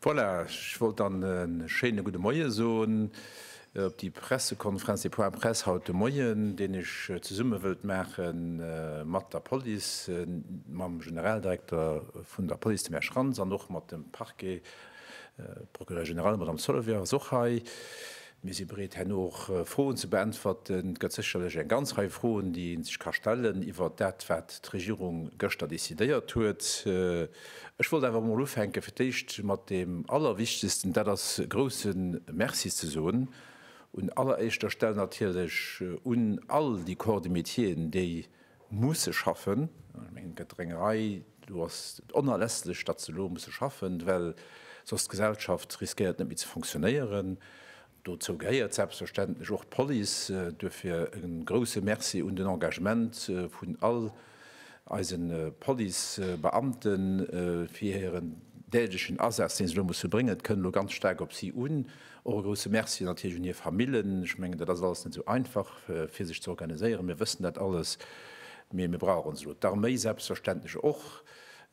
Voilà, ech wollt dann e schéine gudde Moie soen op déi Pressekonferenz, dee Point Presse haut de Moien, deen ech zesumme wëllt maache mat der Police, mam Generaldirekter vun der Police, dem Här Schrantz, an och mat dem Parquet, Procureur général, d'Madame Sollewér ass och hei. Mir si bereet herno och Froen ze beäntwerten. Et gëtt sécherlech eng ganz Rei Froen, déi ee sech ka stellen iwwert dat, wat d'Regierung gëschter decidéiert huet. Ech wollt awer emol ufänke fir d'éischt mat deem Allerwichtegsten, dat ass e grouse Merci ze soen un alleréischter Stell natierlech un all déi Corps de métieren, déi musse schaffen. Ech mengen, et gëtt der eng Rei. Do ass et onerlässlech, datt se elo musse schaffen, well soss d'Gesellschaft riskéiert net méi ze fonctionnéieren. Dozou gehéiert selbstverständlech och d'Police. Duerfir e grouse Merci un den Engagement vun all eise Policebeamten fir hiren dälechen Asaz, dee se elo musse bréngen. Et kënnt elo ganz staark op si un. Och e grousse Merci natierlech un hir Famillen. Ech mengen, dat ass alles net esou einfach, fir sech ze organiséieren. Mir wëssen dat alles, mee mir brauchen se elo. D'Arméi selbstverständlech och.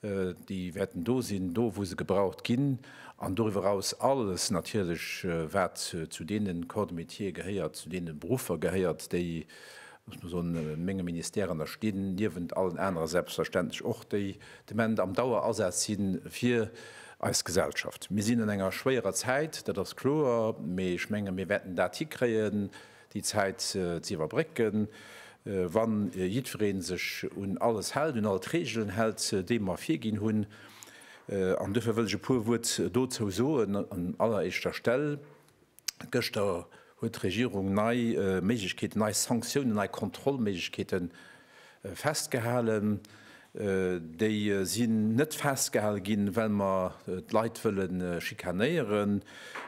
Déi wäerten do sinn, do wou se gebraucht ginn. An doriwwer eraus alles natierlech, wat zu deene Corps de métier gehéiert, zu deene Beruffer gehéiert, déi Ech muss soen, menge Ministère, an da stinn niewent allen anere selbstverständlech och déi Demande am Dauerasaz si fir eis Gesellschaft. Mir sinn an enger schwéierer Zäit, dat ass kloer, mee ech menge mir wäerten dat hikréien, déi Zäit ze iwwerbrécken, wa jiddweree sech un alles hält, un all d'Reegelen hält, déi mer virginn hunn. An duerfir wëll ech e puer Wuert dozou soen. An alleréischter Stell Gëschter huet d'Regierung nei Méiglechkeeten, nei Sanktiounen, nei Kontrollméiglechkeete festgehalen. Déi sinn net festgehale ginn, well mer d'Leit wëlle schikanéieren.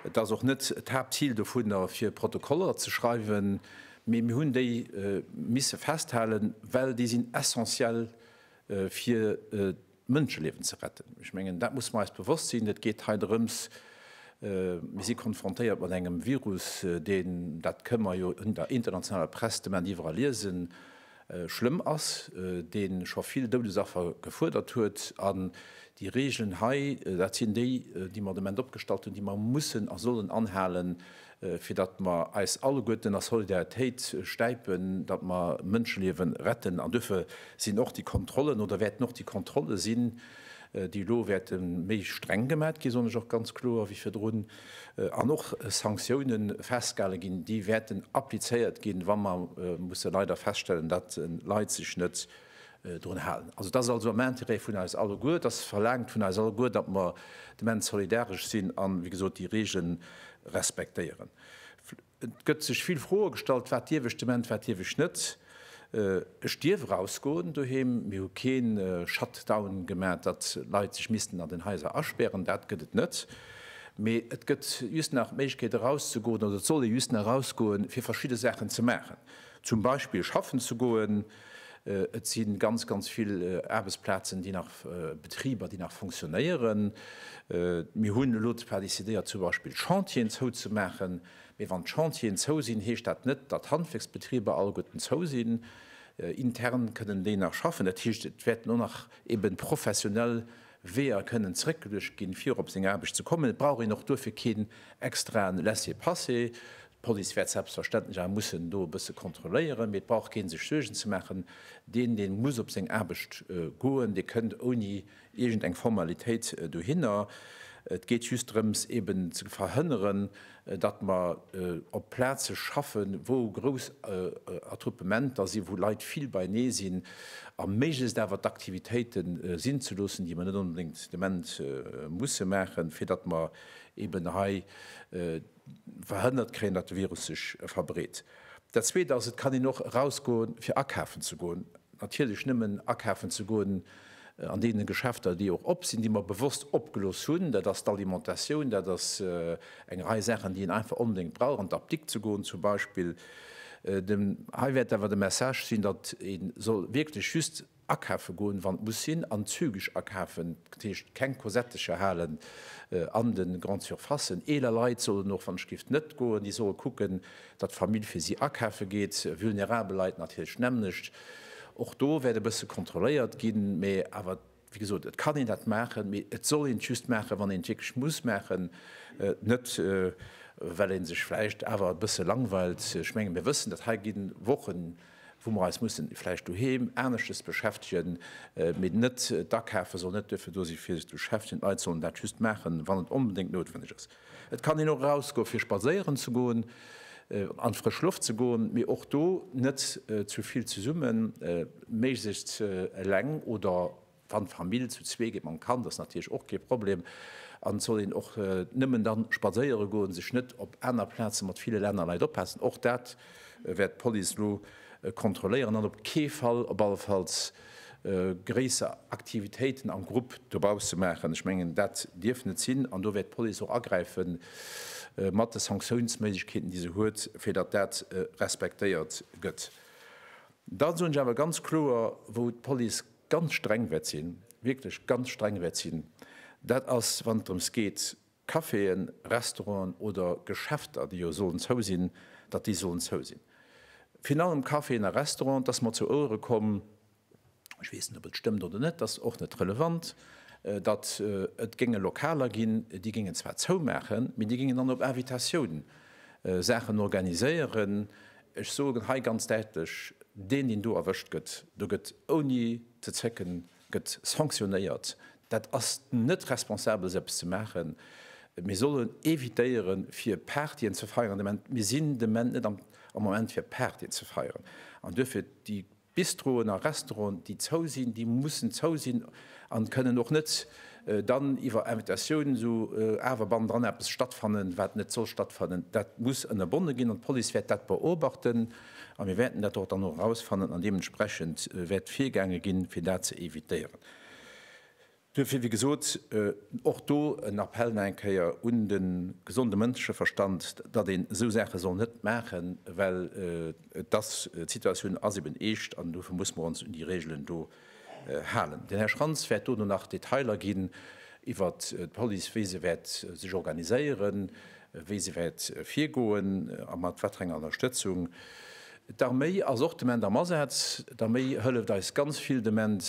Et ass och net d'Haaptzil dovunner, fir Protokoller ze schreiwen, mee mir hunn déi misse festhalen, well déi sinn essentiell, fir Mënscheliewen ze retten. Ech mengen, dat musse mer eis bewosst sinn. Et geet hei drëms, mir si konfrontéiert mat engem Virus, deen, dat kënne mer jo un der internationaler Press de Moment iwwerall liesen, schlëmm ass, dee scho vill Doudesaffer gefuerdert huet. An déi Reegelen hei, dat sinn déi, déi mer de Moment opgestallt hunn, déi mer mussen a sollen anhalen. fir datt mer eis alleguerten a Solidaritéit stäipen, datt mer Mënscheliewe retten. An duerfir sinn och déi Kontrollen oder wäerten och déi Kontrolle sinn, déi elo wäerte méi streng gemat ginn, soen ech och ganz kloer, wéi virdrun, an och Sanktioune festgehale ginn, déi wäerten applizéiert ginn, wa mer musse leider feststellen, datt Leit sech net drun halen. Also, dat ass also am Intérêt vun eis alleguer. Dat verlaangt vun eis alleguer, datt mer immens solidaresch sinn an, wéi gesot, déi Reegele respektéieren. Et gëtt sech vill Froe gestallt, Wat dierf ech de Moment, wat dierf ech net? Ech dierf erausgoen doheem. Mir hu kee Shutdown gemaach, datt Leit sech missten an den Haiser aspären. Dat gëtt et net. Mee et gëtt just nach d'Méiglechkeet erauszegoen, oder et soll ee just nach erausgoen, fir verschidde Saachen ze maachen. Zum Beispill schaffen ze goen. Et si ganz, ganz vill Aarbechtsplazen, déi nach, Betriber, déi nach funktionéieren. Mir hunn elo zwar decidéiert zum Beispill Chantieren zouzemaachen, mee wann d'Chantieren zou sinn, heescht dat net, datt Handwerksbetriber alleguerten zou sinn. Intern kënnen déi nach schaffen. Dat heescht, et wäerten och nach eeben professionell Weeër kënnen zeréckgeluecht ginn, fir op seng Aarbecht ze kommen. Et brauch een och duerfir keen extraen Laissez-passer. D'Police wäert selbstverständlech awer mussen do e bësse kontrolléieren, mee et brauch kee sech Suergen ze maachen. Deen, dee muss op seng Aarbecht goen, dee kënnt ouni iergend eng Formalitéit dohinner. Et geet just drëms eben ze verhënneren, datt mer op Plaze schaffe wou grouss Attroupementer sinn, wou Leit vill beienee sinn, a méiglechst awer d'Aktivitéite sinn ze loossen, déi mer net onbedéngt de Moment musse maachen, fir datt mer eben hei. verhënnert kréien, datt de Virus sech verbreet. Dat Zweet ass, et kann een och erausgoen, fir akafen ze goen. Natierlech nëmmen akafen ze goen an deene Geschäfter, déi och op sinn, déi mer bewosst opgelooss hunn. Dat ass d'Alimentatioun, dat ass eng Rei Saachen, déi een einfach onbedéngt brauch, an d'Apdikt ze goen zum Beispill. Hei wäert awer de Message sinn, datt ee soll wierklech just Akafe goen, wann et muss sinn, an zügeg akafen, dat heescht keng Kosettecher halen an de Grandes Surfacen. Eeler Leit sollen och, wann et géif, net goen. Déi solle kucken, datt d'Famill fir si akafe geet. Vulnerabel Leit natierlech d'nämmlecht. Och do wäert e bësse kontrolléiert ginn, mä awer, wéi gesot, et kann een dat maachen, mee et soll een et just maachen, wann een et wierklech muss maachen, net well ee sech vläicht awer e bësse langweilt. Ech menge mir wëssen, datt hei gi Wochen wou mer eis mussen vläicht doheem aneschtes beschäftegen, mee net d'Akafe soll net duerfir do sinn, fir sech ze beschäftegen. D'Leit sollen dat just maachen, wann et onbedéngt noutwenneg ass. Et kann een och erausgoen, fir spadséieren ze goen, an d'frësch Loft ze goen, mee och do net ze vill zesummen, méiglechst eleng oder Wann d'Famill zu zwee geet mam Kand, ass natierlech och kee Problem. An et soll een och nëmmen da spadséiere goen, sech net op aner Plaze mat ville Länner Leit oppassen. Och dat wäert d'Police elo kontrolléieren. An op kee Fall, op allefalls, gréisser Aktivitéiten am Grupp dobausse maachen. Ech mengen, dat dierf net sinn. An do wäert d'Police och agräife mat de Sanktiounsméiglechkeeten, déi se huet, fir datt dat respektéiert gëtt. Da soen ech awer ganz kloer, wou d'Police ganz streng wäert sinn, wierklech ganz streng wäert sinn, dat ass, wann et drëms geet, Caféen, Restauranten oder Geschäfter, déi jo sollen zou sinn, datt déi sollen zou sinn. Virun allem Caféen a Restauranten, et ass mer zu Ouere komm, ech weess net, ob et stëmmt oder net, dat ass och net relevant, datt et géinge Lokaler ginn, déi géingen zwar zoumaachen, mee déi géingen dann op Invitatioun Saachen organiséieren, Ech soen hei ganz däitlech, Deen, deen do erwëscht gëtt, do gëtt ouni ze zécken gëtt sanktionéiert. Dat ass net responsabel, esou eppes ze maachen. Mir sollen evitéiere fir Partyen ze feieren. Mir sinn de Ment net am Moment fir Partyen ze feieren. An duerfir déi Bistroen a Restauranten, déi zou sinn, déi mussen zou sinn a kënnen och net dann iwwer Invitatioun esou awer bannendran eppes stattfannen, wat net soll stattfannen. Dat muss ënnerbonne ginn an d'Police wäert dat beobachten a mir wäerten dat och dann erausfannen an deementsprechend wäert virgaange ginn, fir dat ze evitéieren. Duerfir, wéi gesot, och do en Appell nach eng Kéier un de gesonde Mënscheverstand, datt een esou Saache soll net maachen, well et ass, d'Situatioun ass eben eescht an dofir muss mer ons un déi Regeln do halen. Den Här Schrantz wäert dono nach Detailer ginn iwwer d'Police, wéi se wäert sech organiséieren, wéi se wäert virgoen a mat wat fir enger Ënnerstëtzung. D'Arméi ass och d'Ement am Asaz. D'Arméi hëlleft eis ganz vill d'Ement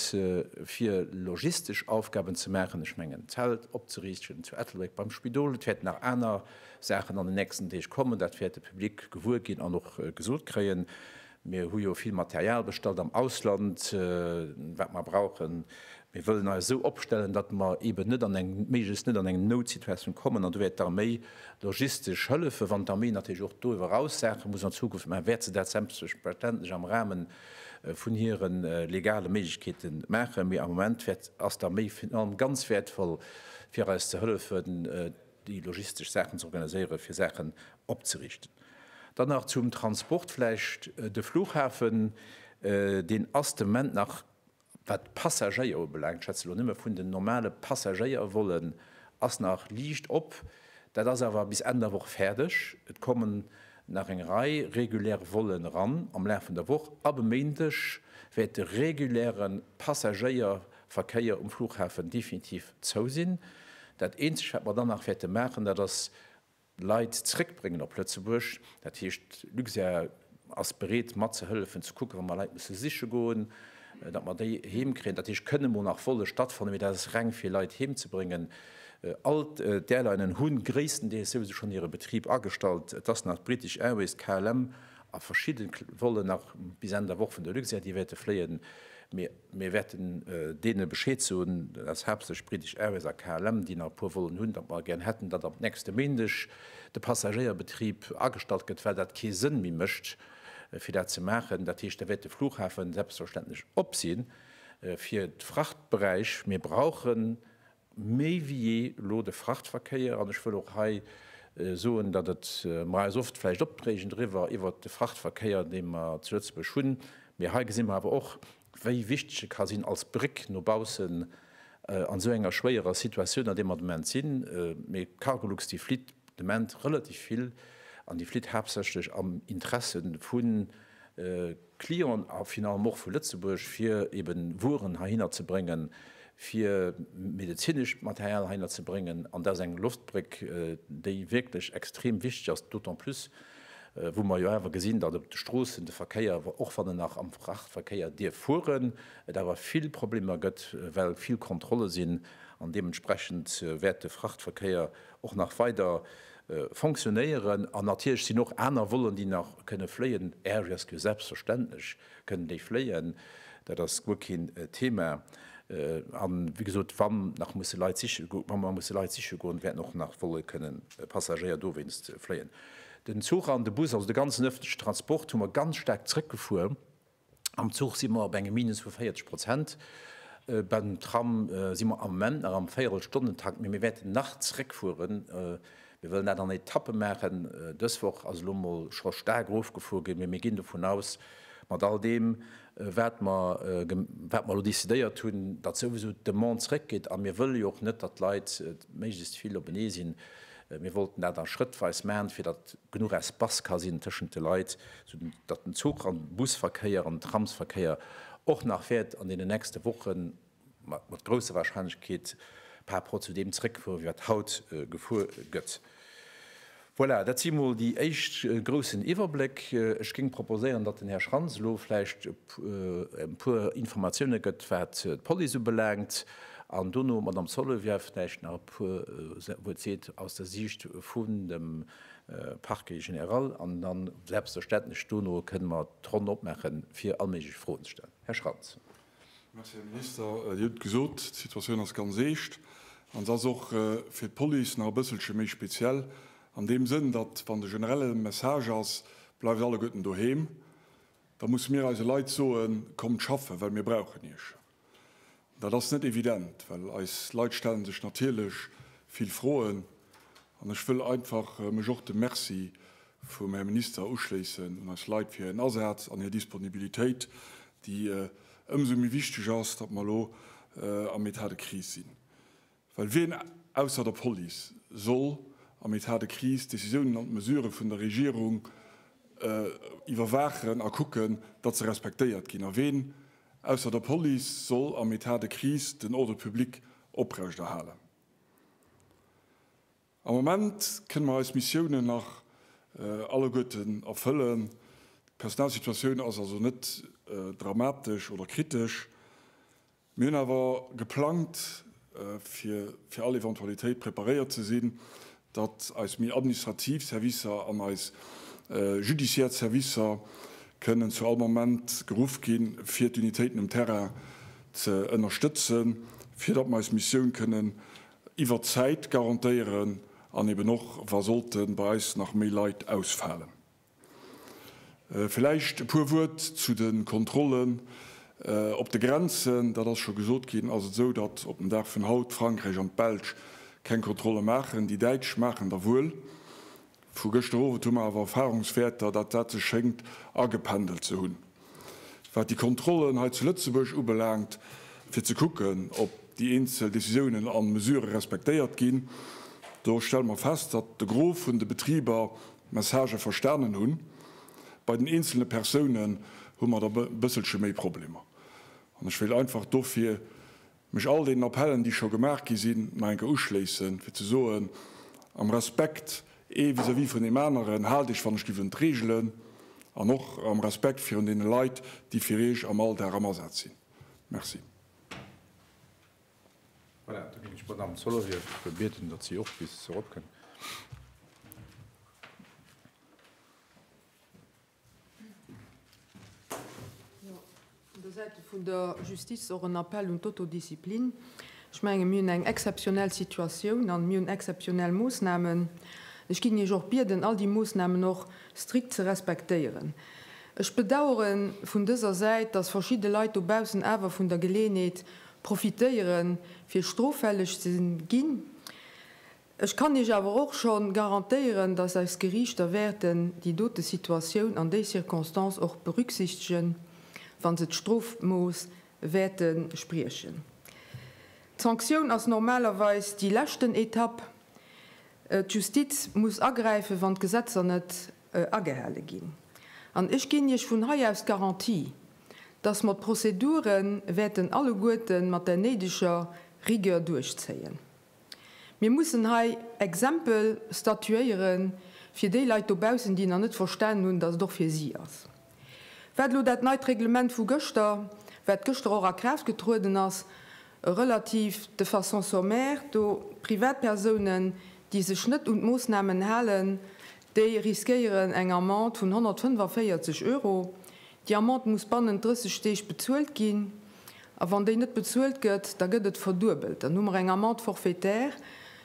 fir logistesch Aufgaben ze maachen. Ech mengen d'Zelt opzeriichten zu Ettelbréck beim Spidol. Et wäerten nach aner Saachen an den nächsten Deeg kommen. Dat wäert de Public gewuer ginn an och gesot kréien. Mir hu jo vill Material bestallt am Ausland, wat mer brauchen Mir wëllen eis esou opstellen, datt mer eeben net an eng, méiglechst net an eng Noutsituatioun kommen. An do wäert d'Arméi logistesch hëllefen. Wann d'Arméi natierlech och doriwwer eraus Saache muss an Zukunft maachen, wäert se dat selbstverständlech am Rahme vun hire legale Méiglechkeete maachen. Mee am Moment wäert, ass d'Arméi virun allem ganz wäertvoll, fir eis ze hëllefen, déi logistesch Saachen ze organiséieren, fir Saachen opzerichten. Dann nach zum Transport vläicht. De Flughafen, deen ass de Moment nach Wat d'Passagéier ubelaangt, schwätze elo nëmme vun den normale Passagéiervollen, ass nach liicht op. Dat ass awer bis Enn der Woch fäerdeg. Et kommen nach eng Rei regulär Vollen eran am Laf vun der Woch. Ab e Méindeg wäert de reguläre Passagéierverkéier um Flughafen definitiv zou sinn. Dat eenzegt, wat mer dann nach wäerte maachen, dat ass Leit zréckbréngen op Lëtzebuerg. Dat heescht, Luxair ass bereet matzehëllefen, ze kucken, wa mer Leit musse siche goen, datt mer déi heem kréien. Dat heescht, kënne mol nach Volle stattfannen, mee dat ass reng fir Leit heem ze bréngen. All d'Airlinen hu gréisstendeels souwisou schonn hire Betrib agestallt. Et ass nach d'British Airways, d'KLM a verschidde Vollen nach bis Enn der Woch vun der Luxair, déi wäerte fléien, mee. Mir wäerten deene Bescheed soen, dat ass haaptsächlech British Airways a KLM, déi nach e puer Vollen hunn, datt mer gär hätten, datt am nächste Méindeg de Passagéierbetrib agestallt gëtt, well dat kee Sënn méi mécht, fir dat ze maachen. Dat heescht, da wäert de Flughafen selbstverständlech op sinn fir d'Frachtberäich. Mir brauchen méi wéi jee elo de Frachtverkéier, an ech wëll och hei soen, datt et mer eis oft vläicht opdrégen driwwer, iwwert de Frachtverkéier, dee mer zu Lëtzebuerg hunn, mee hei gesi mer awer och, wéi wichteg e ka sinn als Bréck no baussen an esou enger schwéierer Situatioun, an där mer de Moment sinn. Mee d'Cargolux, déi flitt de Moment relativ vill, an déi flitt haaptsächlech am Interesse vu Clienten a finalement och vu Lëtzebuerg, fir eben Wueren heihinner ze bréngen, fir medezinescht Material heihinner ze bréngen. An dat ass eng Loftbréck, déi wierklech extrem wichteg ass, d'autant plus, wou mer jo awer gesinn, datt op de Stroossen de Verkéier, och wann en nach am Frachtverkéier dierf fueren, et awer vill Problemer gëtt, well vill Kontrolle sinn an deementsprechend wäert de Frachtverkéier, och nach weider fonctionnéieren an natierlech sinn och aner Vollen, déi nach kënne fléien, Air Rescue, selbstverständlech kënnen déi fléien, dat ass guer keen Thema. An, wéi gesot, wa mer nach musse Leit siche goen, wa mer musse Leit siche goen, wäerten och nach Volle kënnen Passagéier dowéinst fléien. Den Zuch an de Bus, also de ganzen öffentlechen Transport, hu mer ganz staark zrëckgefuer. Am Zuch si mer op engem Minus vu 40 Prozent. Beim Tram si mer am Moment nach am Véierelstonnentakt, mee mir wäerten nach zeréckfueren. Mir wëllen dat an Etappe maachen. Dës Woch ass elo mol scho staark erofgefuer ginn, mee mir ginn dovun aus, mat all deem, wat mer elo decidéiert hunn, datt souwisou d'Demande zeréckgeet. A mir wëlle jo och net, datt d'Leit méiglechst vill openee sinn. Mir wollten dat a Schrëttweis maachen, fir datt genuch Espace ka sinn tëschent de Leit, sou datt den Zuch an Busverkéier an Tramsverkéier och nach wäert an deenen nächste Woche mat grousser Wahrscheinlechkeet par rapport zu deem zréckfuere wéi wat haut gefuer gëtt. Voilà, dat si mol déi éischt groussen Iwwerbléck. Ech géing proposéieren, datt den Här Schrantz elo vläicht e puer Informatioune gëtt, wat d'Police ubelaangt, an dono d'Madame Sollewieff vläicht nach puer Wuert seet aus der Siicht vun dem Parquet général an dann selbstverständlech dono kënnen mer d'Ronn opmaachen, fir all méiglech Froen ze stellen. Här Schrantz. Merci, Här Minister. Dir hutt gesot, d'Situatioun ass ganz eescht an se ass och fir d'Police nach e bësselche méi speziell an deem Sënn, datt, wann de generelle Message ass, Bleift alleguerten doheem, da musse mir eise Leit soen, Kommt schaffen, well mir brauchen iech. Dat ass net evident, well eis Leit stellen sech natierlech vill Froen. An ech wëll einfach mech och dem Merci vum Här Minister uschléissen un eis Leit fir hiren Asaz an hir Disponibilitéit, déi ëmsou méi wichteg ass, datt mer elo am Etat de crise sinn. Well wien ausser der Police soll am Etat de crise d'Decisiounen an d'Mesurë vun der Regierung iwwerwaachen a kucken, datt se respektéiert ginn? A wien ausser der Police soll am Etat de crise den Ordre public oprechterhalen? Am Moment kënne mer eis Missiounen nach alleguerten erfëllen. D'Personalsituatioun ass also net dramatesch oder kritesch. Mir hunn awer geplangt, fir fir all Eventualitéit preparéiert ze sinn, datt eis méi administrativ Servicer an eis judiciaire Servicer kënnen zu all Moment geruff ginn, fir d'Unitéiten um Terrain ze ënnerstëtzen, fir datt mer eis Missioun kënnen iwwert d'Zäit garantéieren an eeben och, wa sollten bei eis nach méi Leit ausfalen. Vläicht e puer Wuert zu de Kontrollen op de Grenzen. Dat ass scho gesot ginn. Ass et esou, datt op den Dag vun haut Frankräich an d'Belsch keng Kontrolle maachen? Déi Däitsch maachen der wuel. Vu gëschter Owend hu mer awer Erfahrungswäerter, datt dat sech schéngt agependelt ze hunn, wat déi Kontrollen hei zu Lëtzebuerg ubelaangt, fir ze kucken, ob déi eenzel Décisiounen a Mesurë respektéiert ginn. Do stelle mer fest, datt de Gros vun de Betriber Messagë verstanen hunn. Bei den eenzelne Persounen hu mer der e bësselche méi Problemer. An ech wéilt einfach dofir mech all deenen Appellen, déi scho gemaach gi sinn, nach eng Kéier uschléissen, fir ze soen, Am Respekt ee vis-à-vis vun deem aneren, haalt Iech wann ech giff un d'Reegelen an och am Respekt virun deene Leit, déi fir Iech am Alldag am Asaz sinn. Merci. Voilà, da ginn ech d'Madame Zoller iwwer. Ech wëll bieten, datt si och bis erop kënnt. Jo, vun der Säite vun der Justiz och en Appell un d'Autodisziplin. Ech menge mir hunn eng exzeptionell Situatioun a mir hunn exzeptionell Moossnamen. Ech géing Iech och bieden, all déi Moossnamen och strikt ze respektéieren. Ech bedauere vun dëser Säit, datt verschidde Leit dobaussen awer vun der Geleeënheet profitéieren, fir stroffälleg ze ginn. Ech kann Iech awer och scho garantéieren, dass eis Geriichter wäerten déi dote Situatioun an déi Circonstance och berücksichtegen, wa se d'Strofmooss wäerte spriechen. D'Sanktioun ass normalerweis déi leschten Etapp. D'Justiz muss agräifen, wann d'Gesetzer net agehale ginn. An ech ginn Iech vun hei aus d'Garantie, dass mer d'Prozedure wäerten alleguerte mat der néideger Rigueur duerchzéien. Mir mussen hei Exempel statuéiere fir déi Leit dobaussen, déi nach net verstanen hunn, dass et och fir si ass. Wat elo dat neit Reglement vu gëschter, wat gëschter och a Kraaft getrueden ass, relativ de façon sommaire, do Privatpersounen, déi sech net un d'Moossnamen halen, déi riskéieren eng Amende vun 145 Euro, Déi Amende muss bannent 30 Deeg bezuelt ginn a wann déi net bezuelt gëtt, da gëtt et verduebelt. Dann hu mer eng Amende forfaitaire.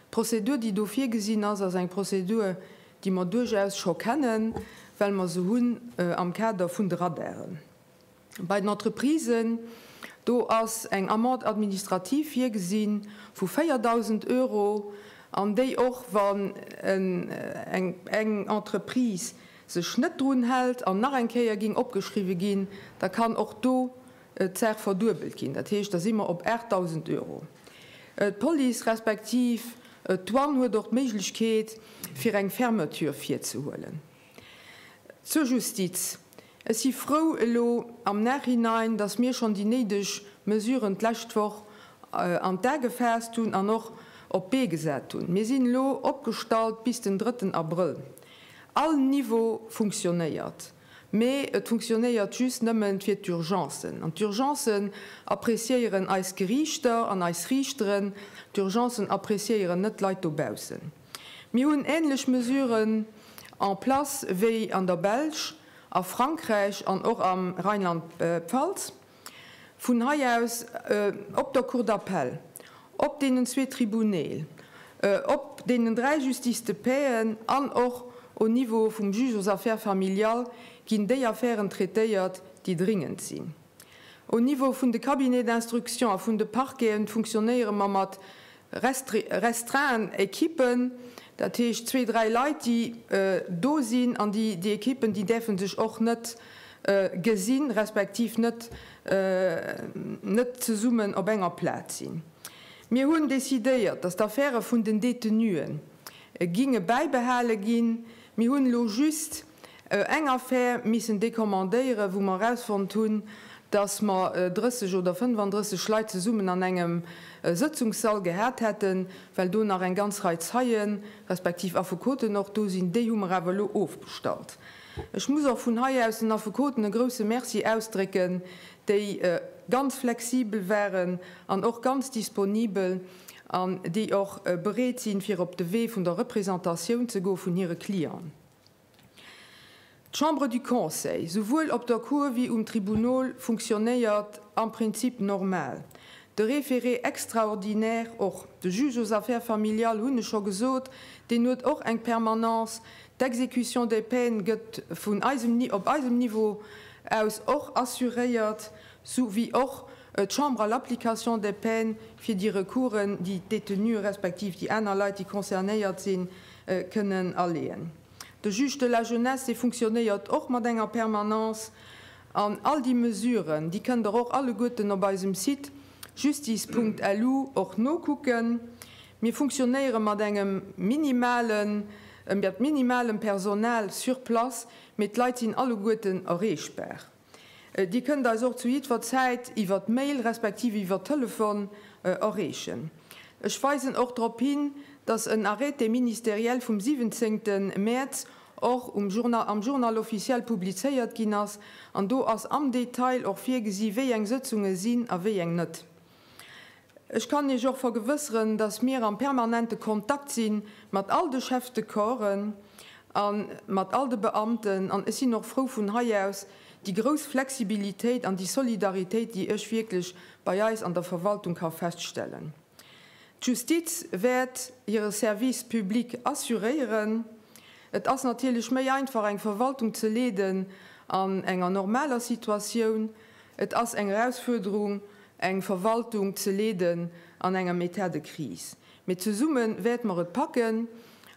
D'Prozedur, déi do virgesinn ass, ass eng Prozedur, déi mer duerchaus scho kennen, well mer se hunn am Kader vun de Radaren. Bei den Entreprisen, do ass eng Amende administrative virgesi vu 4.000 Euro an déi och, wann eng Entreprise sech net drun hält an nach eng Kéier géing opgeschriwwe ginn, da kann och do d'Saach verduebelt ginn. Dat heescht, da si mer op 8.000 Euro. D'Police respektiv d'Douane huet och d'Méiglechkeet, fir eng Fermeture virzehuelen. Zur Justiz, Ech si frou elo am Nachhinein, datt mir schonn déi néideg Mesuren d'lescht Woch an d'A gefaasst hunn an och op d'Bee gesat hunn. Mir sinn elo opgestallt bis den drëtten Abrëll. All Niveau funktionéiert, mee et funktionéiert just nëmmen fir d'Urgencen. An d'Urgencen appréciéieren eis Geriichter an eis Riichteren, d'Urgencen appréciéieren net d'Leit dobaussen. Mir hunn ähnlech Mesuren en place wéi an der Belsch, a Frankräich an och am Rheinland-Pfalz. Vun hei aus op der Cour d'appel, op deenen zwee Tribunäle, op deenen dräi Justices de paixen an och au Niveau vum Juge aux affaires familiales ginn déi Affären traitéiert, déi dringend sinn. Au Niveau vun de Cabinets d'instruction a vun de Parqueten funktionéiere mer mat restreint Equipen, dat heescht zwee, dräi Leit, déi do sinn, an déi Equipen, déi däerfe sech och net gesinn, respektiv net zesummen op enger Plaz sinn. Mir hunn decidéiert, dass d'Affäre vun den Détenue ginge bäibehale ginn. Mir hunn elo just Eng Affär missen decommandéieren, wou mer erausfonnt hunn, dass mer 30 oder 35 Leit zesummen an engem Sëtzungssall gehat hätten, well do nach eng ganz Rei Zeien, respektiv Affekoten och do sinn, déi hu mer awer elo ofbestallt. Ech muss och vun hei aus den Affekoten e grouse Merci ausdrécken, déi ganz flexibel waren an och ganz disponibel an déi och bereet sinn, fir op de Wee vun der Représentatioun ze goen vun hire Clienten. D'Chambre du Conseil, souwuel op der Cour wéi um Tribunal, funktionnéiert am Prinzip normal, de Référé extraordinaire och. De Juge aux affaires familiales, hunn ech scho gesot, deen huet och eng Permanence. D'Exécution des peines gëtt vun eisem, op eisem Niveau aus och assuréiert, sou wéi och d'Chambre à l'application des peines fir déi Recoursen, déi d'Détenue respektiv déi aner Leit, déi concernéiert sinn, kënnen aleeën. De Juge de la Jeunesse, dee funktionéiert och mat enger Permanence. An all déi Mesuren, déi kënnt Der och alleguerten op eisem Site justice.lu och nokucken. Mir funktionéiere mat engem minimalen, minimalem Personal sur place, mee d'Leit sinn alleguerten erreechbar. Dir kënnt eis och zu jiddwer Zäit iwwer d'Mail respektiv iwwer Telefon erreechen. Ech weisen och drop hin, dass en Arrêté ministériel vum 17 Mäerz och am Journal officiel publizéiert ginn ass an do ass am Detail och virgesi wéi eng Sëtzunge sinn a wéi eng net. Ech kann Iech och vergewësseren, dass mir am permanente Kontakt si mat all de Chefs de corpsen a mat all de Beamten. An ech sinn och frou vun hei aus déi grouss Flexibilitéit an déi Solidaritéit, déi ech wierklech bei eis an der Verwaltung ka feststellen. D'Justiz wäert hire Service public assuréieren. Et ass natierlech méi einfach, eng Verwaltung ze leeden an enger normaler Situatioun. Et ass eng Erausfuerderung. eng Verwaltung ze leeden an enger État de crise, mee zesumme wäerte mer et packen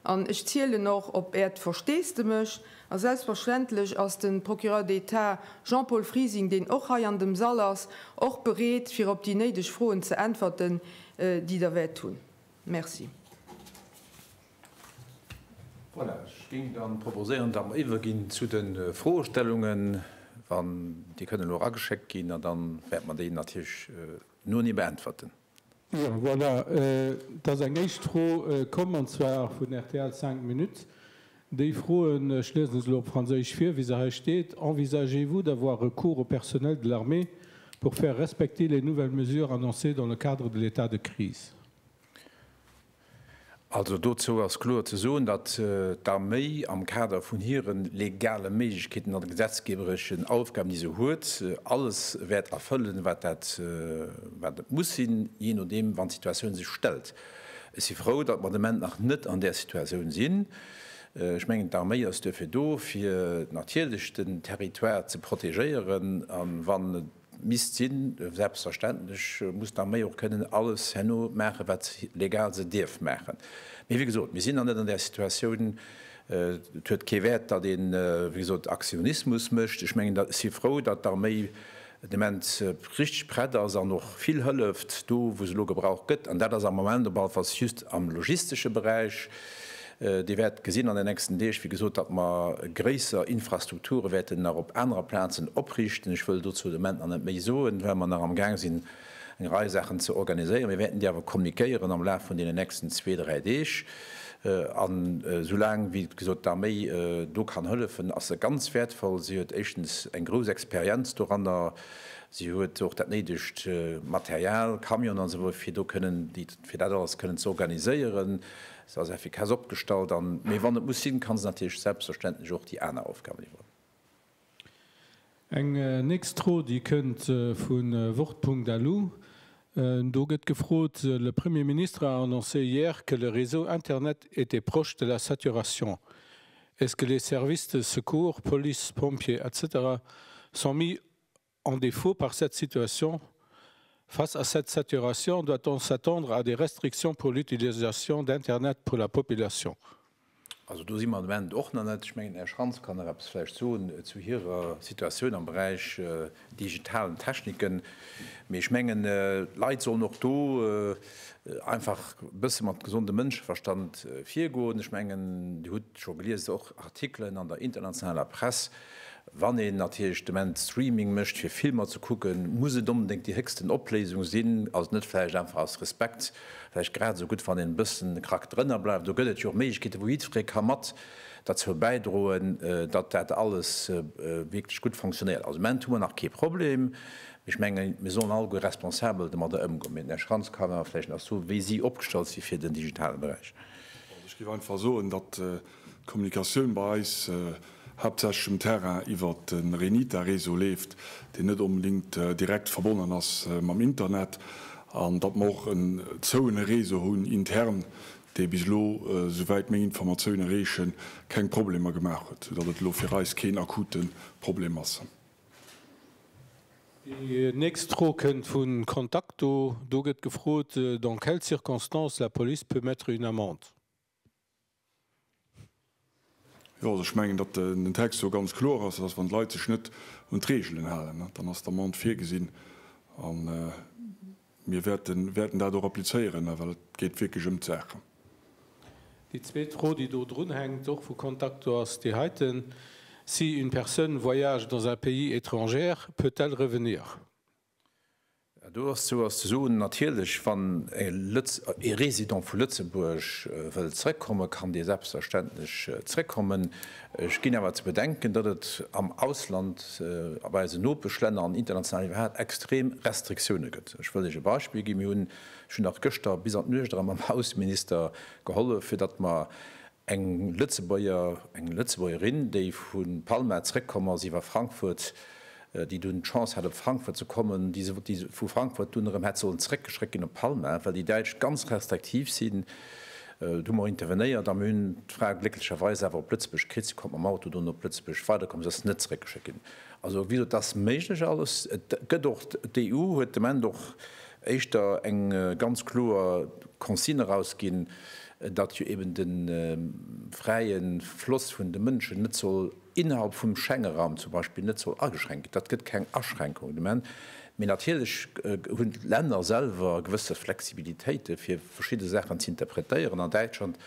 an ech zielen och op Äert Versteesdemech. A selbstverständlech ass de Procureur d'État Jean-Paul Frising, deen och hei an dem Sall ass, och bereet fir op déi néideg Froen ze äntwerten, déi Der wäert hunn. Merci. Voilà, ech géing dann proposéieren, datt mer iwwerginn zu de Froestellungen, wann, déi kënnen elo erageschéckt ginn, an da wäerte mer déi natierlech no enee beäntwerten. Jo, voilà, et ass eng éischt Fro komm, an zwar vun rtl cinq minutes. Déi froen, ech liesen se elo op Franséisch vir, wéi se hei steet, Envisagez-vous d'avoir recours au personnel de l'armée pour faire respecter les nouvelles mesures annoncées dans le cadre de l'état de crise? Also dozou ass kloer ze soen, datt d'Arméi am Kader vun hire legale Méiglechkeeten an de gesetzgebereschen Aufgaben, déi se huet, alles wäert erfëllen, wat dat, wat et muss sinn, jee nodeem, wann d'Situatioun sech stellt. Ech si frou, datt mer de Moment nach net an där Situatioun sinn. Ech mengen, d'Arméi ass duerfir do, fir natierlech den Territoire ze protegéieren, a wann et misst sinn. Selbstverständlech muss d'Arméi och kënnen alles herno maachen, wat legal se dierf maachen. Mee wéi gesot, mir sinn nach net an där Situatioun. Et huet kee Wäert, datt ee wéi gesot Aktionismus mécht. Ech mengen, ech si frou, datt d'Arméi den Ament richteg prett ass an och vill hëlleft do, wou se elo gebraucht gëtt. An dat ass am Moment op alle Falls just am logistesche Beräich. Dir wäert gesinn an den nächsten Deeg, wéi gesot, datt mer gréisser Infrastrukture wäerten nach op anerer Plazen oprichten. Ech wëll dozou de Moment nach net méi soen, well mer nach amgaang sinn, eng Rei Saachen ze organiséieren. Mir wäerten déi awer kommuniquéieren am Laf vun deenen nächsten zwee, dräi Deeg. An soulaang wéi gesot d'Arméi do kann hëllefen, ass se ganz wäertvoll. Si huet éischtens eng grouss Experienz doranner, si huet och dat néidegt Material, Camionen an esou weiter, fir do kënnen, fir dat alles kënnen ze organiséieren. Se ass effikass opgestallt an, mee wann et muss sinn, ka se natierlech selbstverständlech och déi aner Aufgaben iwwerhuelen. Eng nächst Fro, déi kënnt vu Wort.lu. Do gëtt gefrot, Le Premier ministre a annoncé hier que le réseau Internet était proche de la saturation. Est-ce que les services de secours, police, pompiers, etc. Sont mis En défaut par cette situation, face à cette saturation, doit-on s'attendre à des restrictions pour l'utilisation d'internet pour la population? Also do si mer de Moment och nach net. Ech mengen, den Här Schrantz kann nach eppes vläicht soen zu hirer Situatioun am Beräich digitalen Techniken. Mee ech mengen, d'Leit sollen och do einfach e bësse mat gesondem Mënscheverstand virgoen. Ech mengen, Dir hutt scho gelies och Artikelen an der internationaler Press, Wann een natierlech de Moment Streaming mécht fir Filmer ze kucken, muss et onbedéngt déi héchsten Opléisung sinn? Ass et net vläicht einfach aus Respekt vläicht grad esou gutt wann een e bëssen de Krack drënner bleift? Do gëtt et jo och Méiglechkeeten wou jiddweree ka mat derzou bäidroen, datt dat alles wierklech gutt fonctionnéiert. Also de Moment hu mer nach kee Problem, mee ech menge mir sollen alleguer responsabel domadder ëmgoen. Mee den Här Schrantz kann awer vläicht nach soen wéi si opgestallt si fir den digitale Beräich. Ech géif einfach soen, datt D'Kommunikatioun bei eis haaptsächlech um Terrain iwwert de Renita-Réseau leeft, deen net onbedéngt direkt verbonnen ass mam Internet, an datt mer och en zouene Réseau hunn intern, dee bis elo, souwäit meng Informatioune reechen, keng Problemer gemaach huet, soudatt et elo fir eis keen akute Problem ass. Déi nächst Fro kënnt vu Contacto. Do gëtt gefrot, Dans quelles circonstances la police peut mettre une amende? Jo, also ech mengen, datt den Text do ganz kloer ass, dass, wann d'Leit sech net un d'Reegelen halen, dann ass d'Amende virgesinn. A mir wäerten dat och applizéieren, well et geet wierklech ëm d'Saach. Déi zweet Fro, déi do drunhänkt, och vu Contacto, ass déi heiten, Si une personne voyage dans un pays étranger, peut-elle revenir? Dozu ass ze soen, Natierlech, wann ee Résident vu Lëtzebuerg wëllt zrëckkommen, kann dee selbstverständlech zrëckkommen. Ech ginn awer ze bedenken, datt et am Ausland, bei eisen Nopeschlänner an international iwwerhaapt extrem Restriktioune gëtt. Ech wëll lech e Beispill ginn, Ech hunn nach gëschter bis an d'Nuecht erëm mam Ausseminister gehollef, fir datt mer Eng Lëtzebuerger, eng Lëtzebuergerin, déi vu Palma zréckkomm ass iwwer Frankfurt, déi dunn d'Chance hat op Frankfurt ze kommen, déi vu Frankfurt dunn erëm hätt sollen zréckgeschréckt ginn op Palma, well déi Däitsch ganz restriktiv sinn. Du hu mer intervenéiert a mir hunn d'Fra glécklecherweis awer op Lëtzebuerg kritt. Si konnt mam Auto dunn op Lëtzebuerg weiderkommen, si ass net zréckgeschéckt ginn. Also wéi gesot, et ass méiglech alles. Et gëtt och, d'EU huet d'Ament och éischter eng ganz kloer Consigne erausginn, datt jo eben de fräie Floss vun de Mënschen net soll innerhalb vum Schengeraum zum Beispill net soll ageschränkt ginn, datt gëtt keng Aschränkung de Moment. Mee natierlech hunn d'Länner selwer gewësse Flexibilitéite fir verschidde Saachen z'interpretéieren. An Däitschland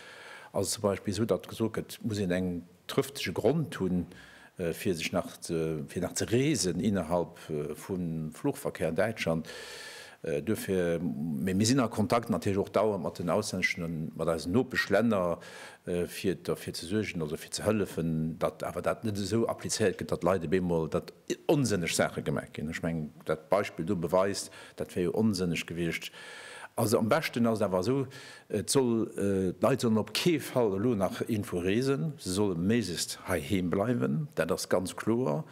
ass et zum Beispill esou, datt gesot gëtt, et muss een eng trëftege Grond hunn, fir sech nach fir nach ze reesen innerhalb vum Fluchverkehr an Däitschland. Duerfir, mee mir sinn a Kontakt natierlech och dauernd mat den auslänneschen an mat eisen Nopeschlänner, fir derfir ze suergen, also fir ze hëllefen, datt awer dat net esou applizéiert gëtt, datt Leit op eemol, datt onsënneg Saache gemaach ginn. Ech mengen, dat Beispill do beweist, dat wär jo onsënneg gewiescht. Also am beschten ass et awer esou, Et soll, d'Leit sollen op kee Fall elo nach iergendwou reesen, se solle méiglechst heiheem bleiwen, dat ass ganz kloer.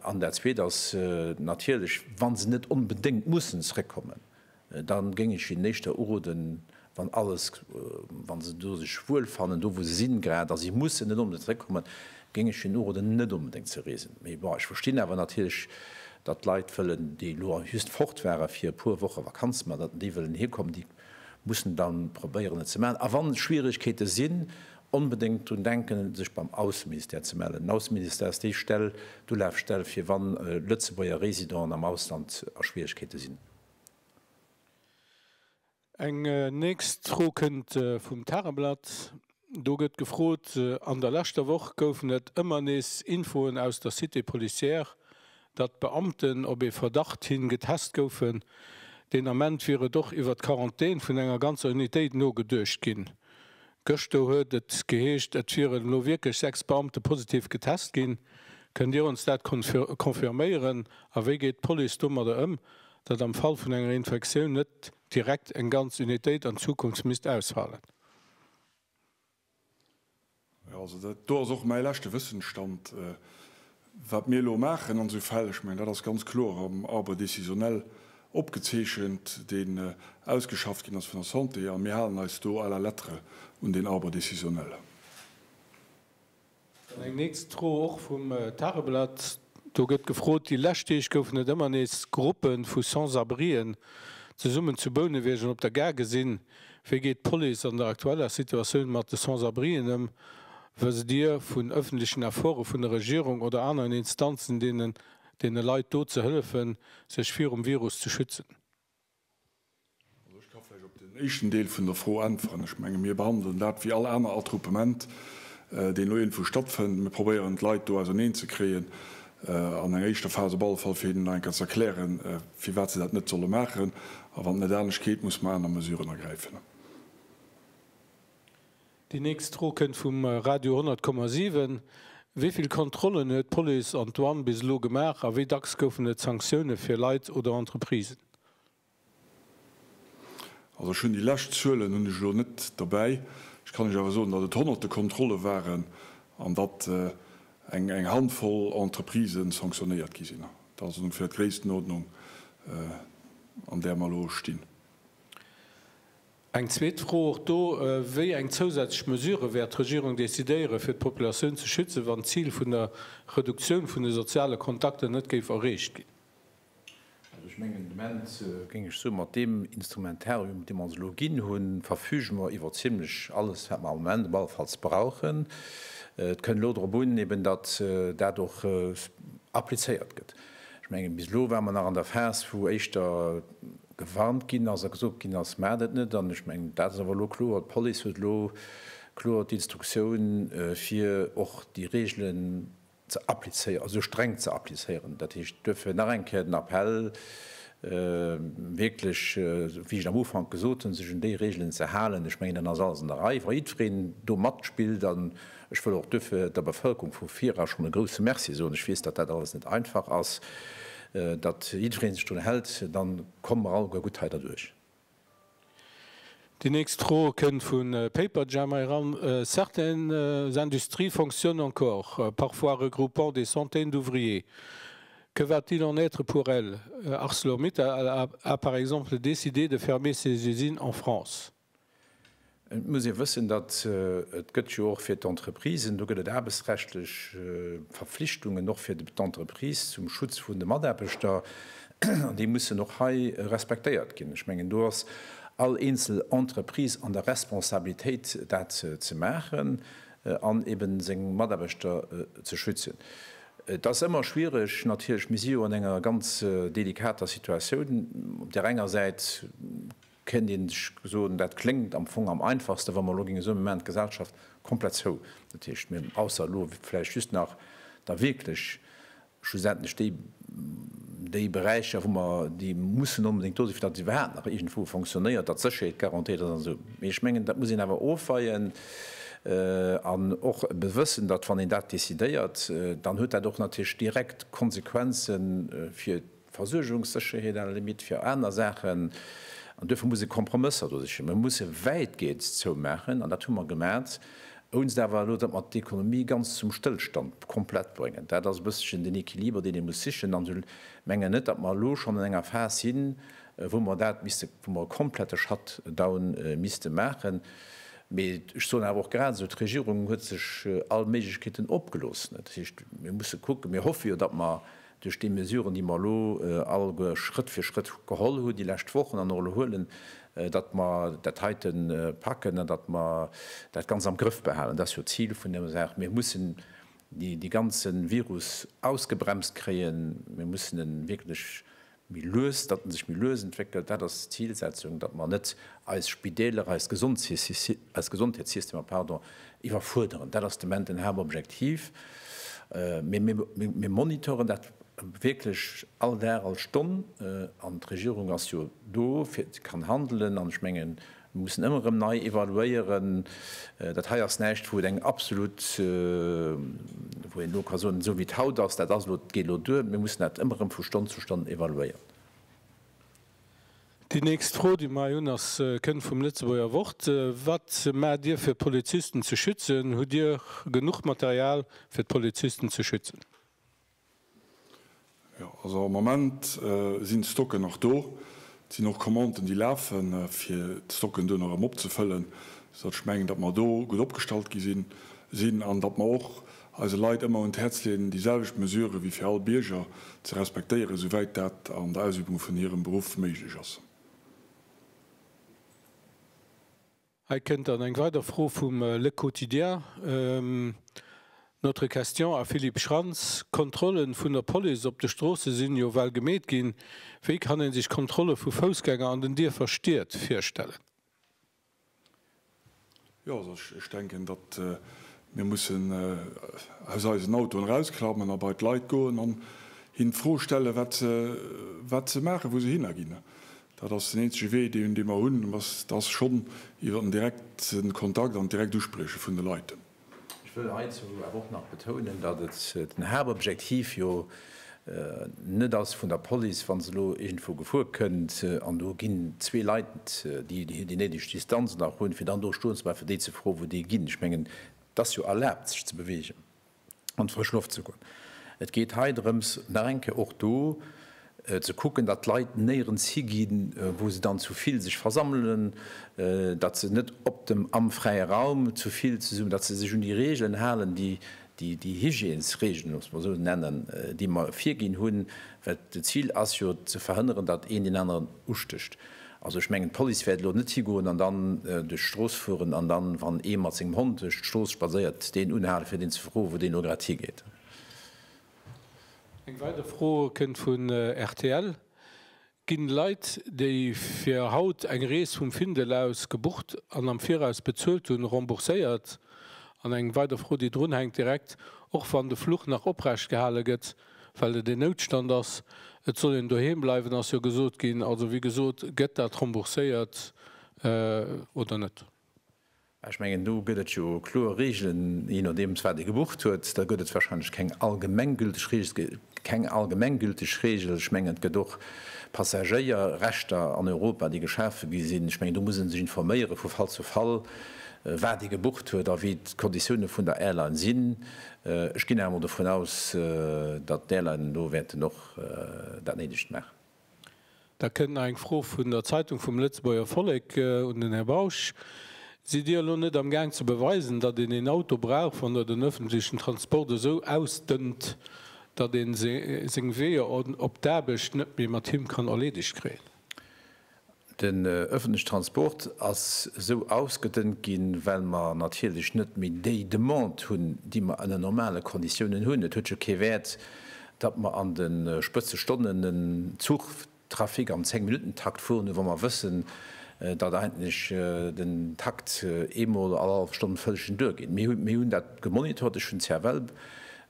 An dat Zweet ass natierlech, wa se net onbedéngt mussen zrëckkommen, da géing ech hinnen éischter uroden, wann alles, wa se do sech wuel fannen, do wou se sinn grad, a si mussen net onbedéngt zrëckkommen, géing ech hinnen uroden, net onbedéngt ze reesen. Mee bon, ech verstinn awer natierlech, datt Leit wëllen, déi elo just fort ware fir e puer Woche Vakanz, ma datt déi wëllen hierkommen, déi. Mussen dann probéieren et ze maachen a wann Schwieregkeete sinn, onbedéngt drun denken sech beim Ausseministère ze mellen. Den Ausseministère ass déi Stell, d'Ulafstell fir wann Lëtzebuerger Residenten am Ausland a Schwieregkeete sinn. Eng nächst Fro kënnt vum Tageblatt. Do gëtt gefrot, An der leschter Woch goufen et ëmmer nees Infoen aus der Cité policière, datt Beamten op ee Verdacht hin getest goufen. Deen Ament wier et och iwwer d'Quarantän vun enger ganzer Unitéit nogeduecht ginn. Gëschter huet et geheescht, et wieren elo wierklech sechs Beamte positiv getest ginn. Kënnt Dir ons dat confirméieren? A wéi geet d'Police domadder ëm, datt am Fall vun enger Infektioun net direkt eng ganz Unitéit an Zukunft misst ausfalen? Jo, also dat do ass och mäi leschte Wëssensstand, wat mir elo maachen an esou Fäll. Ech mengen, dat ass ganz kloer am Arbre décisionnel opgezeechent, deen ausgeschafft ginn ass vun der Santé, a mir halen eis do à la lettre un deen Arbre décisionnel. Dann eng nächst Fro och vum Tageblatt. Do gëtt gefrot, déi lescht Deeg goufen et ëmmer nees Gruppe vu Sans-abrien zesummen zu Bouneweg an op der Gare gesinn. Wéi geet d'Police an der aktueller Situatioun mat de Sans-abrien ëm? Wësst Dir vun ëffentlechen Efforte vun der Regierung oder aneren Instanzen, deenen deene Leit do ze hëllefen, sech virum Virus ze schützen? Also ech ka vläicht op deen éischten Deel vun der Fro äntweren. Ech menge mir behandelen dat wéi all aner Attroupement, deen elo iergendwou stattfënnt. Mir probéieren d'Leit do auserneen ze kréien, an enger éischter Phas op alle Fall, fir hinnen nach eng Kéier ze erklären, firwat se dat net solle maachen. A wann et net anescht geet, musse mer aner Mesuren ergräifen. Déi nächst Fro kënnt vum Radio 100,7, Wéi vill Kontrollen huet d'Police an d'Douane bis elo gemaach a wéi dacks goufen et Sanktioune fir Leit oder Entreprisen? Also ech hunn déi lescht Zuelen hunn ech elo net derbäi. Ech kann lech awer soen, datt et honnerte Kontrolle waren an datt eng Handvoll Entreprisen sanctionnéiert gi sinn. Dat ass ongeféier d'Gréisstenordnung an där mer elo stinn. Eng zweet Fro och do, Wéi eng zousätzlech Mesurë wäert d'Regierung decidéieren, fir d'Populatioun ze schützen, wann d'Zil vun der Reduktioun vun de soziale Kontakter net géif erreecht ginn? Also ech mengen, de Moment géing ech soen, mat deem Instrumentarium, dee mer ons elo ginn hunn, verfüge mer iwwer zimmlech alles, wat mer am Moment op alle Falls brauchen. Et kënn elo drop un, eben datt dat och applizéiert gëtt. Ech mengen, bis elo ware mer nach an der Phas, wou éischter gewarnt ginn ass a gesot ginn ass, Maacht et net! An ech mengen, dat ass awer elo kloer, D'Police huet elo kloer d'Instruktioun, fir och déi Reegelen ze applizéieren, also streng ze applizéieren. Dat heescht, duerfir nach eng Kéier den Appell, wierklech, wéi ech am Ufank gesot hunn, sech un déi Reegelen ze halen. Ech mengen, dann ass alles an der Rei. Wa jiddwereen do matspillt an Ech wëll och duerfir der Bevëlkerung vu Fira schonn e grouse Merci soen. Ech weess, datt dat alles net einfach ass, datt jiddereen sech drun hält. Da komme mer alleguer gutt hei derduerch. Déi nächst Fro kënnt vu Paperjam hei eran, Certaines industries fonctionnent encore, parfois regroupant des centaines d'ouvriers. Que va-t-il en être pour elles? Arcelor-Mittal a par exemple décidé de fermer ses usines en France. Et muss ee wëssen, datt et gëtt jo och fir d'Entreprisen, do gëtt et aarbechtsrechtlech Verflichtungen och fir d'Entreprise zum Schutz vun de Mataarbechter, an déi mussen och hei respektéiert ginn. Ech mengen, do ass all eenzel Entreprise an der Responsabilitéit, dat ze maachen an eben seng Mataarbechter ze schützen. Et ass ëmmer schwierig natierlech. Mir si jo an enger ganz delikater Situatioun. Op där enger Säit. Kéint ee sech soen, dat kléngt am Fong am einfachsten, wa mer elo géinge soen, mir maachen d'Gesellschaft komplett zou, dat heescht, mir, ausser elo vläicht just nach da wierklech schlussendlech déi, déi Beräicher, wou mer déi mussen onbedéngt do sinn, fir datt et iwwerhaapt nach iergendwou fonctionnéiert, datt d'Sécherheet garantéiert ass an esou. Mee ech mengen, dat muss een awer ofweien an och ebe wëssen, datt wann een dat décidéiert, dann huet dat och natierlech direkt Konsequenze fir, Versuergungssécherheet à la limite fir aner Saachen. An duerfir muss ee Kompromësser do sichen. Mir musse wäitgeends zoumaachen, an dat hu mer gemat, ounst awer elo, datt mer d'Ekonomie ganz zum Stëllstand komplett bréngen. Dat ass e bësselchen den Equiliber, deen ee muss sichen. An ech mengen net, datt mer elo schonn an enger Phas sinn, wou mer dat misste, wou mer e komplette Shutdown misste maachen. Mee ech soen awer och grad esou, d'Regierung huet sech all Méiglechkeeten opgelooss. Dat heescht, mir musse kucken, mir hoffe jo, datt mer Duerch déi Mesuren, déi mer elo alleguer Schrëtt fir Schrëtt geholl hunn déi lescht Wochen an och elo huelen, datt mer dat heite packen an datt mer dat Ganzt am Grëff behalen, dat ass jo d'Zil vun der Saach, mir mussen dee ganze Virus ausgebremst kréien, mir mussen e wierklech méi lues, datt e sech méi lues entwéckelt, dat ass d'Zilsetzung, datt mer net eis Spideeler, eis Gesondheetssystemer, pardon, Iwwerfuerderend, dat ass de Moment den Haaptobjektiv. Mee mir monitoren dat wierklech all Dag, all Stonn. An d'Regierung ass jo do, fir ze kann handelen. An ech mengen, mir mussen ëmmer erëm nei evaluéieren. Dat hei ass näischt, wou et eng absolut, wou een elo ka soen, esou wéi et haut ass, dat ass elo, dat geet elo duer. Mir mussen dat ëmmer erëm vu Stonn zu Stonn evaluéieren. Déi nächst Fro, déi mer hei hunn, ass kënnt vum Lëtzebuerger Wort, Wat maacht Dir fir d'Polizisten ze schützen? Hutt Dir genuch Material fir d'Polizisten ze schützen? Jo, also am Moment sinn d'Stocken nach do. Et sinn och Commanden, déi lafen, fir d'Stocken duerno erëm opzefëllen, soudatt ech mengen, datt mer do gutt opgestallt gi sinn an datt mer och, eise Leit ëmmer un d'Häerz leeën, déi selwecht Mesurë wéi fir all Bierger ze respektéieren, souwäit dat an der Ausübung vun hirem Beruff méiglech ass. Hei kënnt dann eng weider Fro vum Le Quotidien, Notre Question à Philippe Schrantz, Kontrolle vun der Police op de Stroosse sinn jo well gemeet ginn, wéi kann ee sech Kontrolle vu Foussgänger an den Dierfer, Stied virstellen? Jo, also ech denken, datt mir mussen aus eisen Autoen erausklammen a bei d'Leit goen an hinnen d'Fro stellen, wat se, wat se maachen, wou se hinnerginn. Dat ass den eenzege Wee, dee mer hunn, dat ass schonn iwwer den direkte Kontakt an d'direkt Usprieche vun de Leit. Ech wëll heizou awer och nach betounen, datt den Haaptobjektiv jo net ass vun der Police, wa se elo iergendwou gefuer kënnt an do ginn zwee Leit, déi déi néideg Distanz nach hunn, fir dann do stoen ze bleiwen, fir déi ze froen, wou déi ginn. Ech mengen, et ass jo erlaabt, sech ze beweegen, an d'frësch Loft ze goen. Et geet hei drëms, nach eng Kéier och do, ze kucken, datt d'Leit néierens higinn, wou se dann zu vill sech versammelen, datt se net op dem, am fräie Raum zu vill zesummen, datt se sech un déi Reegelen halen, déi, déi Hygiènesreegelen, loosst mer esou nennen, déi mer virginn hunn, well d'Zil ass jo ze verhënneren, datt een deen aneren ustécht. Also ech mengen, d'Police wäert elo net higoen an dann duerch d'Strooss fueren an dann, wann ee mat sengem Hond duerch d'Strooss spadséiert, deen unhalen, fir deen ze froen, wou deen elo grad higeet. Eng weider Fro kënnt vun rtl, Ginn Leit, déi fir haut eng Rees vum Findel aus gebucht an am Viraus bezuelt hunn, rembourséiert? An eng weider Fro, déi drun hänkt direkt, Och wann de Fluch nach oprecht gehale gëtt, well et een Noutstand ass, et soll een doheem bleiwen, ass jo gesot ginn, also wéi gesot, gëtt dat rembourséiert oder net? Ech mengen, do gëtt et jo kloer Reegelen, jee nodeems wat ee gebucht huet. Da gëtt et warscheinlech keng allgemenggülteg Reegel. Et gëtt keng allgemenggülteg Reegel. Ech mengen, et gëtt och Passagéierrechter an Europa, déi geschafe gi sinn. Ech mengen, do muss ee sech informéiere vu Fall zu Fall, wat ee gebucht huet a wéi d'Konditioune vun der Airline sinn. Ech ginn awer mol dovun aus, datt d'Airlinen do wäerten och dat Néidegt maachen. Da kënnt nach eng Fro vun der Zeitung vum Lëtzebuerger Vollek un den Här Bausch. Sidd Dir elo net am Gaang ze beweisen, datt een een Auto brauch, wann Der den öffentlichen Transport esou ausdënnt, datt ee seng Weeër op d'Aarbecht net méi mat him kann erleedegt kréien? Den öffentliche Transport ass esou ausgedënnt ginn, well mer natierlech net méi déi Demande hunn, déi mer ënner normale Konditiounen hunn. Et huet jo kee Wäert, datt mer an de Spëtzestonnen en Zuchtrafic am Zéng-Minutten-Takt fueren hu wa mer wëssen, datt eigentlech den Takt eemol all hallef Stonn vëllchen duergeet. Mir hunn dat gemonitort, ech hunn d'CFL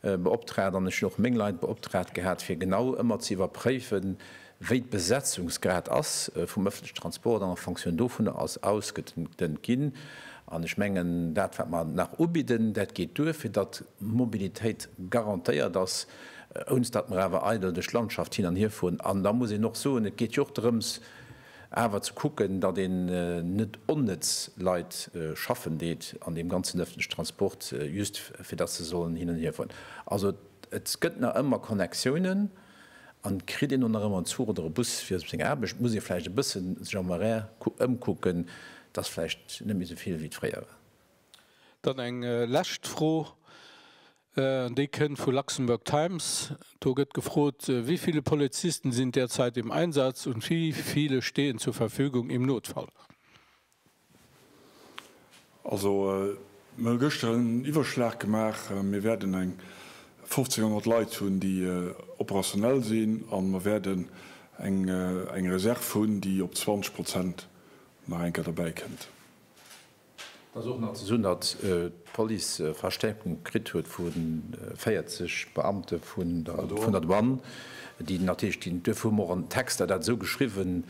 beoptraagt an ech hunn och meng Leit beoptraagt gehat, fir genau ëmmer ze iwwerpréifen, Wéi d'Besetzungsgrad ass vum öffentlichen Transport an fonction dovunner ass ausgedënnt ginn. An ech mengen, dat wat mer nach ubidden, dat geet duer, fir datt d'Mobilitéit garantéiert ass, ouns datt mer awer eidel duerch d'Landschaft hin an hier fueren. An da muss een och soen, et geet jo och drëms awer ze kucken, datt een net onnëtz Leit schaffen deet an deem ganzen öffentlichen Transport, just fir datt se sollen hin an hier fueren. Also et gëtt nach ëmmer Connectiounen. An kritt een elo nach ëmmer en Zuch oder e Bus fir op seng Aarbecht, muss ee vläicht e bësse sech am Horaire ëmkucken. Et ass vläicht net méi esou vill, wéi et fréier war. Dann eng lescht Fro, an déi kënnt vu Luxembourg Times. Do gëtt gefrot, Wie viele Polizisten sind derzeit im Einsatz und wie viele stehen zur Verfügung im Notfall? Also, mir hu gëschter en Iwwerschlag gemaach. Mir wäerten eng 1.500 Leit hunn, déi operationell sinn, a mir wäerten eng Reserv hunn, déi op 20 Prozent nach eng Kéier derbäi kënnt. Et ass och nach ze soen, datt d'Police Verstäerkung kritt huet vu 40 Beamte vun der Douane, déi natierlech, duerfir hu mer och an den Texter dat esou geschriwwen,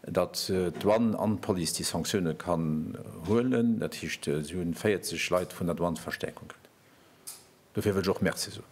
datt d'Douane an d'Police déi Sanktioune kann huelen, dat heescht si hunn 40 Leit vun der Douane Verstäerkung kritt. Dofir wëll ech och Merci soen.